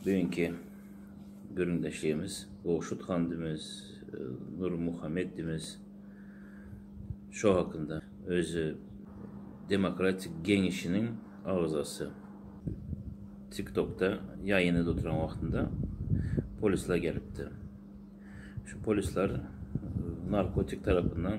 Bu günki gürrüňdeşligimiz Gowşut han dimiz, Nur Muhammet dimiz şo hakynda. Özi Demokratik geňeşiniň agzasy. TikTokda ýaýyny duturan wagtynda polisler gelipdi. Şu polisler narkotik tarapyndan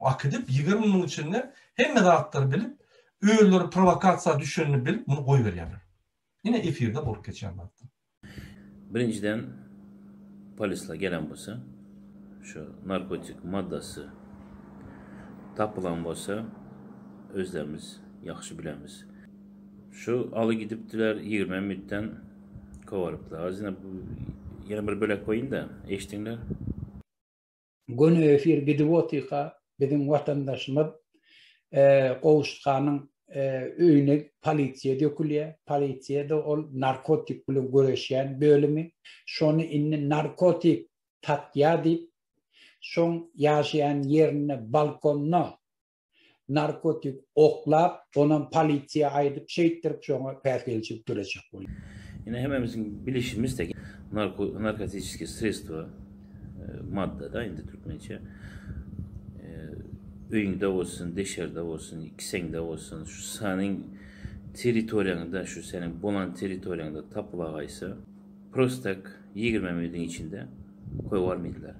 Akidip ýigrimi minuň içinde hemme zatlary bilip, özleri prowokasiýa düşenini bilip muny goýberýärler. Ine efirde bolup geçýän zatlar. Birinjiden polisler gelen bolsa, şu narkotik maddasy tapylan bolsa, özlerimiz ýagşy bilemiz. Şu aly gidipdiler ýigrimi minutdan kowalypdylar. Ýene bir bölek goýun-da, eşdiňler. Göni efir gidip otyka biziň watandaşymyz gowuştkanyň öýüne polisiýa dökülýär, polisiýada ol narkotik bilen göreşýän bölümi, şony indi narkotik tatýa diýip şoň ýaşaýan ýerinde balkonda narkotik oklap, onam polisiýa aýdyp, şeýtdirip şoňa päsgelçilik döretjek bolýar. Ine hemmämiziň bilişimiz tek narkotiçeskiý sredstwo madda-da indi türkmençe. Öýüňde bolsun, deşerde bolsun, kiseňde bolsun, şu seniň territoriýaňda, şu seniň bolan territoriýaňda tapylagaýsa, prostak ýigrimi minutiň içinde goýbermeýdiler.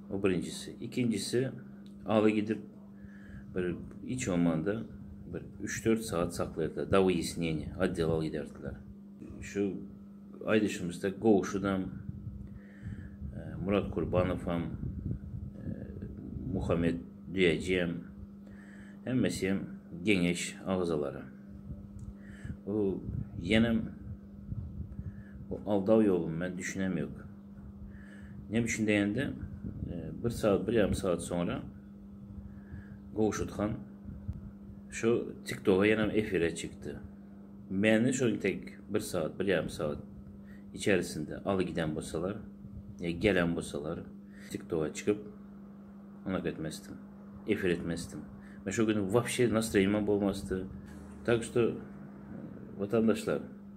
O birinjisi. Ikinjisi awy gidip bir iç olmanda bir 3-4 sagat saklaýardylar. Daw ýesneni, odýel al giderdiler. Şu aýdyşymyzda Gowşudam, e, Murat Kurbanowam, e, Muhammet Düýäjiýem, hemmesi hem geňeş agzalary. Bu ýenem bu aldaw ýolumy men düşünemýok. Näme üçin diýende, bir sagat, bir ýarym sagat soňra Gowşut han şu TikToga ýene efire çykdy. Meni şu intek bir sagat, bir ýarym sagat içerisinde aly giden bolsalar, ýa gelen bolsalar, TikToga çykyp, onak etmezdim, efir etmezdim. Men şu gün wapşe nastroýenimem bolmazdy. Tak что, watandaşlar,